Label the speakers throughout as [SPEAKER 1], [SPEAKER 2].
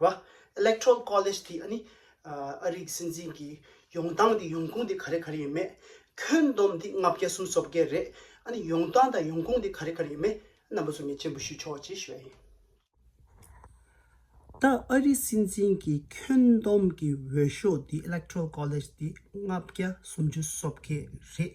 [SPEAKER 1] བ། Electoral College དེ་ཨ་ནི་ཨ་རིག་སྲིད་འཛིན་གྱི་ཡོང་སྟངས་དེ་ཡོང་ཁུངས་དེ་ག་རེ་ག་རེ་ཡིན་མེད། ཁྱོན་བསྡོམས་དེ་ལྔ་བརྒྱ་གསུམ་སོ་བརྒྱད་རེད་ཨ་ནི་ཡོང་སྟངས་དང་ཡོང་ཁུངས་དེ་ག་རེ་ག་རེ་ཡིན་མེད་རྣམ་པ་ཚོ་ངས་མཆན་བུ་ཞུས་ཆོག་ཅེས་ཞུས་པ་ཡིན། ད་ཨ་རིག་སྲིད་འཛིན་གྱི་ཁྱོན་བསྡོམས་ཀྱི་འོས་ཤོག་དེ Electoral College དེ་ལྔ་བརྒྱ་སུམ་ཅུ་སོ་བརྒྱད་རེད།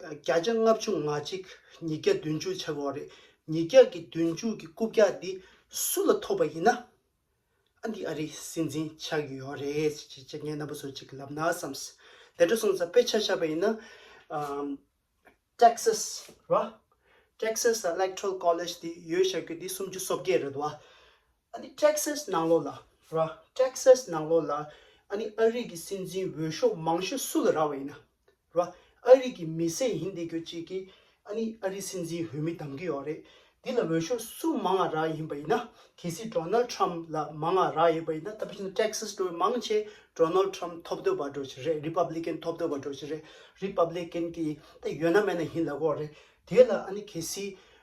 [SPEAKER 1] བརྒྱ་ཆ་ལྔ་བཅུ་ང་གཅིག་ཉིས་བརྒྱ་བདུན་ཅུ་ཆ་བོ་རེད་ཉིས་བརྒྱ་གི་བདུན་ཅུ་གི་རྐུབ་བཀྱག་འདི་སུ་ལ་ཐོབ་པ་ཡིན་ན་ཨ་འདི་ཨ་རིའི་སྲིད་འཛིན་ཆགས་ཀྱི་ཡོད་རེད་ཟེར་གྱི་ཅི་ངའི་རྣམ་པ་ཚོ་ཅིག་ལབ་ན་བསམ་དེ་འདྲ་སོང་ཙང་དཔེ་ཆ་ཆགས་པ་ཡིན་ན Texas རེད་བ Texas electoral college དེ་ཡོད་ཆགས་རྒྱུ་དེ་སུམ་ཅུ་སོ་བརྒྱད་རེད་བ་ཨ་ནི Texas ནང་ལོགས་ལ་ར། Texas ནང་ལོགས་ལ་ཨ་ནི་ཨ་རིག་གི་སྲིད་འཛིན་འོས་ཤོག་མང་ཤོས་སུ་ལ་ར་བ་ཡིན་ན་ར། ཨ་རིག་གི་མི་སེར་ཡིན་བསྡད་ཁྱོད་ཅིག་གིས་ཨ་ནི་ཨ་རིག་སྲིད་འཛིན་འོས་མི་གདམ་གི་ཡོག་རེད། འདི་ལ་འོས་ཤོག་སུ་མང་ང་ར་ཡིན་པ་ཡིན་ན་གལ་སྲིད Donald Trump ལ་མང་ང་ར་ཡོད་པ་ཡིན་ན་ད་བཞིན Texas འགྲོ་བའི་མང་ཆེ Donald Trump ཐོབ་འདོད་པ་འགྲོ་ཆེ་རེད Republican ཐོབ་འདོད་པ་འགྲོ་ཆེ་རེད Republican གི་ད་ཡོད་ན་མེད་ན་ཡིན་ལ་གོ་རེད་དེ་ལ་ཨ་ནི་གལ་སྲིད་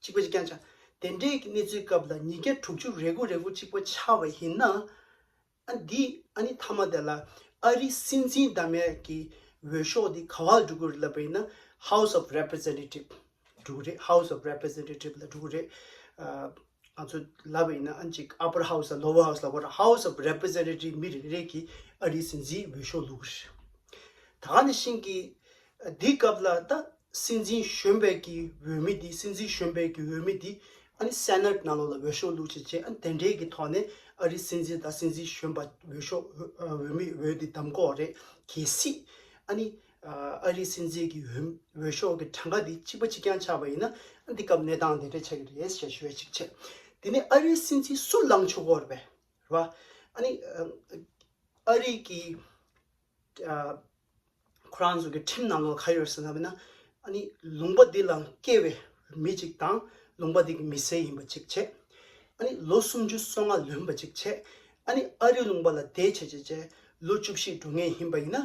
[SPEAKER 1] གཅིག་པ་གཅིག་རྐྱང་ཆགས། དེ་འདྲའི་གནས་ཚུལ་སྐབས་ལ་ཉིས་བརྒྱ་དྲུག་ཅུ་རེ་དགུ་རེ་དགུ་གཅིག་པ་ཆགས་པ་ཡིན་ན། ཨ་འདི་ཨ་ནི་མཐའ་མ་དེ་ལ་ཨ་རི་སྲིད་འཛིན་བདག་མེད་ཀྱི་འོས་ཤོག་འདི་ག་བ་ལ་འགྲོ་གི་རེད་ལབ་པ་ཡིན་ན House of Representative འགྲོ་གི་རེད House of Representative ལ་འགྲོ་གི་རེད། ང་ཚོ་ལབ་པ་ཡིན་ན་ཨ་ནི་གཅིག Upper House ལ Lower House ལ་བོར House of Representative མི་རེ་རེ་གིས་ཨ་རིའི་སྲིད་འཛིན་འོས་ཤོག་བླུག་གི་རེད། ད་ནི་ཤིང་གི། འདི་སྐབས་ལ་ད་སྲིད་འཛིན་གཞོན་པའི་གི་འོས་མི་འདི་སྲིད་འཛིན་གཞོན་པའི་གི་འོས་མི་འདི་ཨ་ནི Senate ནང་ལོགས་ལ་འོས་ཤོག་བླུགས་བྱེད་ཅེས་ཨ་ནི་དེ་འདྲའི་གི་ཐོག་ནས་ཨ་རིའི་སྲིད་འཛིན་ད་སྲིད་འཛིན་གཞོན་པ་འོས་ཤོག་འོས་མི་འོས་འདི་གདམ་གོ་རེད་གལ་སྲིད་ཨ་ནི་ཨ་རིའི་སྲིད་འཛིན་གི་འོས་འོས་ཤོག་གི་གྲངས་ཀ་འདི་གཅིག་པ་གཅིག་རྐྱང་ཆགས་པ་ཡིན་ན་ཨ་ནི་འདི་སྐབས་གནས་སྟངས་དེ་འདྲས་ཆགས་ཀྱི་རེད་ཞེས་ཞུ་བའི་ཆིག་ཆེད་དེ་ནི་ཨ་རིའི་སྲིད་འཛིན་སུ་ལངས་ཆོག་གོ་རེད་པས་རེད་པ་ཨ་ནི་ཨ་རིའི་གི་ཁོ་རང་ཚོ་གི་ཁྲིམས་ནང་དུ་ག་ཡོད་ཟེར་ན་བས་ན་ཨ་ནི་ལུང་པ་འདི་ལ་སྐྱེས་བའི་མི་ཅིག་དང་ལུང་པ་འདི་གི་མི་སེར་ཡིན་པ་གཅིག་བྱས། ཨ་ནི་ལོ་སུམ་ཅུ་སོ་ལྔ་ལོན་པ་གཅིག་བྱས། ཨ་ནི་ཨ་རིའི་ལུང་པ་ལ་བསྡད་བྱས་བྱས་བྱས་ལོ་བཅུ་བཞི་འགྲོ་ངེས་ཡིན་པ་ཡིན་ན་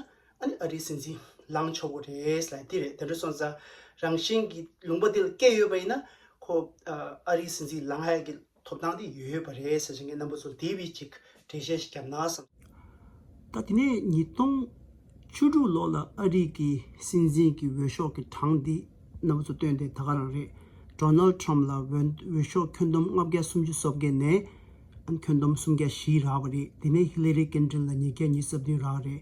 [SPEAKER 1] ཨ་ནི་ཨ་རིའི་སྲིད་འཛིན་ལངས་ཆོག་གི་རེད་ལ་འདི་རེད་དེ་འདྲ་སོང་ཙང་རང་བཞིན་གྱི་ལུང་པ་འདི་ལ་སྐྱེས་ཡོད་པ་ཡིན་ན་ཁོ་ཨ་རིའི་སྲིད་འཛིན་ལངས་ཧ་གི་ཐོབ་ཐང་དེ་ཡོད་པ་རེད་ཟེར་བཞིན་ངས་རྣམ་པ་ཚོར་དེ་བས་ཅིག་འགྲེལ་བཤད་ཞིག་བརྒྱབ་ན་བསམ། ད་དེ་ནས་ཉིས་སྟོང་བཅུ་དྲུག་ལོ་ལ་ཨ་རིག་གི་སྲིད་འཛིན་གྱི་འོས་ཤོག་གི་གྲངས་འདི་རྣམ་པ་ཚོ་བཏོན་ཏེ་ད་ག་རང་རེད Donald Trump ལ་འོས་ཤོག་ཁྱོན་བསྡོམས་ལྔ་བརྒྱ་སུམ་ཅུ་སོ་བརྒྱད་ནས་ཁྱོན་བསྡོམས་སུམ་བརྒྱ་བཞི་རག་པ་རེད་དེ་ནས Hillary Clinton ལ་ཉིས་བརྒྱ་ཉིས་སོ་བདུན་རག་རེད་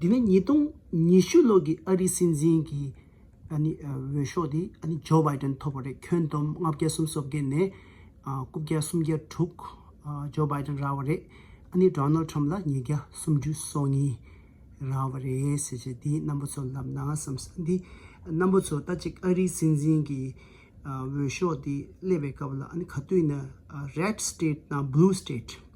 [SPEAKER 1] འདི་ནི་ཉིས་སྟོང་ཉི་ཤུ་ལོ་གི་ཨ་རིའི་སྲིད་འཛིན་གྱི་འོས་ཤོག་དེ Joe Biden ཐོབ་པ་རེད་ཁྱོན་བསྡོམས་ལྔ་བརྒྱ་གསུམ་སོ་བརྒྱད་ནས་དགུ་བརྒྱ་སུམ་བརྒྱ་དྲུག Joe Biden རག་བ་རེད་ཨ་ནི Donald Trump ལ་ཉིས་བརྒྱ་སུམ་ཅུ་སོ་གཉིས་རག་བ་རེད་ཟེར་བྱས་འདི་རྣམ་པ་ཚོ་ལབ་ན་བསམ་སོང་འདི་རྣམ་པ་ཚོ་ད་ཅིག་ཨ་རིའི་སྲིད་འཛིན་གྱི་འོས་ཤོག་དེ་སླེབས་པའི་སྐབས་ལ་ཨ་ནི་ག་དུས་ན Red State དང Blue State།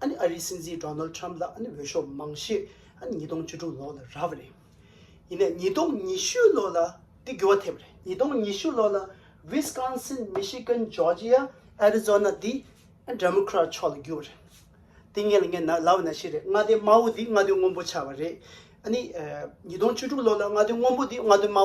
[SPEAKER 1] ཨ་ནི་ཨ་རིའི་སྲིད་འཛིན་ཏྲོ་ནལ་ཏྲམ་ལ་ཨ་ནི་འོས་ཤོག་མང་ཤོས་ཨ་ནི་ཉིས་སྟོང་བཅུ་དྲུག་ལོ་ལ་རག་པ་རེད། ཡིན་ནས་ཉིས་སྟོང་ཉི་ཤུ་ལོ་ལ་དེ་འགྱུར་བ་ཐེབས་པ་རེད། ཉིས་སྟོང་ཉི་ཤུ་ལོ་ལ་ཝིས་ཀོན་སིན་མི་ཤི་ཀན་ཇོར་ཇི་ཡ་ཨ་རི་ཛོ་ན་དེ་འདྲ་མོ་ཀྲ་ཕྱོགས་ལ་འགྱུར་བ་རེད། དེ་ངས་ལ་ངས་ན་ལ་བ་ན་ཤི་རེད་ང་དེ་དམའ་བོ་དེ་ང་དོན་སྔོན་པོ་ཆགས་པ་རེད། ཨ་ནི་ཉིས་སྟོང་བཅུ་དྲུག་ལོ་ལ་ང་དོན་སྔོན་པོ་དེ་ང་དོན་དམའ་བོ་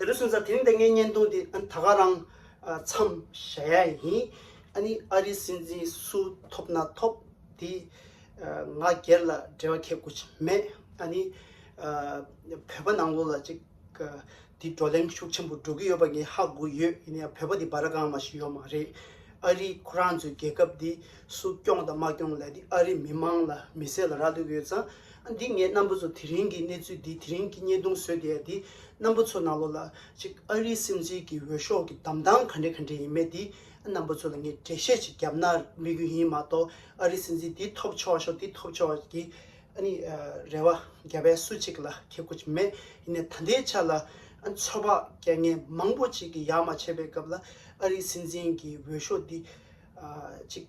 [SPEAKER 1] དེ་ལོ་སུན་ཟ་དེ་རིང་ད་ངའི་བརྙན་ཐུང་དེ་ད་ག་རང་མཚམས་བཞག་ཡ་ཡིན། ཨ་ནི་ཨ་རིའི་སྲིད་འཛིན་སུ་ཐོབ་ན་ཐོབ་དེ་ང་སྒེར་ལ་འབྲེལ་བ་ཁེལ་དགོས་ཀྱི་མེད། ཨ་ནི་བོད་པ་ནང་ལོགས་ལ་ཅིག་དེ་བགྲོ་གླེང་ཤུགས་ཆེན་པོ་འགྲོ་གི་ཡོད་པ་ངས་ཧ་གོ་ཡོད་ཡིན་ན་ཡང་བོད་པ་དེ་འབའ་ར་གང་མ་ཞིག་ཡོད་མ་རེད། ཨ་རིས་ཁོ་རང་ཚོའི་རྒྱལ་ཁབ་དེ་སུ་སྐྱོང་དང་མ་སྐྱོང་ལས་དེ་ཨ་རིའི་མི་མང་ལ་མི་སེར་ལ་རག་ལུས་ཀྱི་ཡོད་ཙང། འདི་ངས་རྣམ་པ་ཚོ་དེ་རིང་གི་གནས་ཚུལ་འདི་དེ་རིང་གི་བརྙན་ཐུང་བཟོས་བསྡད་ཡ་འདི་རྣམ་པ་ཚོ་ནང་ལོགས་ལ་ཅིག་ཨ་རིའི་སྲིད་འཛིན་གྱི་འོས་ཤོག་གི་གདམ་སྟངས་ག་འདྲེ་ག་འདྲེ་ཡིན་མེད་འདི་རྣམ་པ་ཚོ་ལ་ངས་འགྲེལ་བཤད་ཅིག་བརྒྱབ་ན་མི་གུ་ཡིན་མ་གཏོགས་ཨ་རིའི་སྲིད་འཛིན་འདི་ཐོབ་ཆོག་ཆོག་འདི་ཐོབ་ཆོག་ཆོག་གི་ཨ་ནི་རེ་བ་བརྒྱབ་པས་སུ་ཅིག་ལ་ཁེ་སྒོ་ཅིག་མེད་ཡིན་ནས་ད་ལྟའི་ཆ་ལ་ཚོད་དཔག་རྐྱེན་ངན་མང་པོ་ཅིག་གི་ཡག་མ་བྱས་པའི་སྐབས་ལ་ཨ་རིའི་སྲིད་འཛིན་གྱི་འོས་ཤོག་འདི་ཅིག་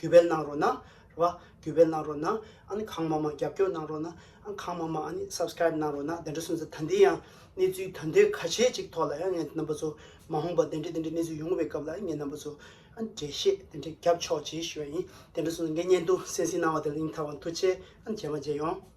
[SPEAKER 1] གུས་པས་གནང་རོགས་གནང། རེད་བ། གུས་པས་གནང་རོགས་གནང། ཨ་ནི་གང་མང་མང་རྒྱབ་སྐྱོར་གནང་རོགས་གནང། ཨ་གང་མང་མང་ཨ་ནི Subscribe གནང་རོགས་གནང་དེ་འདྲ་སོང་ཚེ་ད་འདི་ཡང་གནས་ཚུལ་དོན་དོན་ག་ཆེ་ཅིག་ཐོག་ལ་ཡང་ངའི་རྣམ་པ་ཚོ་མ་འོངས་པ་དེ་འདྲ་དེ་འདྲ་གནས་ཚུལ་ཡོང་བའི་སྐབས་ལ་ངའི་རྣམ་པ་ཚོ་ཨ་ནི་འགྲེལ་བཤད་དེ་འདྲ་རྒྱབ་ཆོག་ཅེས་ཞུ་བ་ཡིན་དེ་འདྲ་སོང་ཚེ་ངའི་བརྙན་ཐུང་གསན་གཟིགས་གནང་བ་དེ་ལ་ཡིན་མཐའ་དབང་ཐུགས་ཆེ་ཨ་ནི་རྗེས་མ་རྗེས་ཡོང།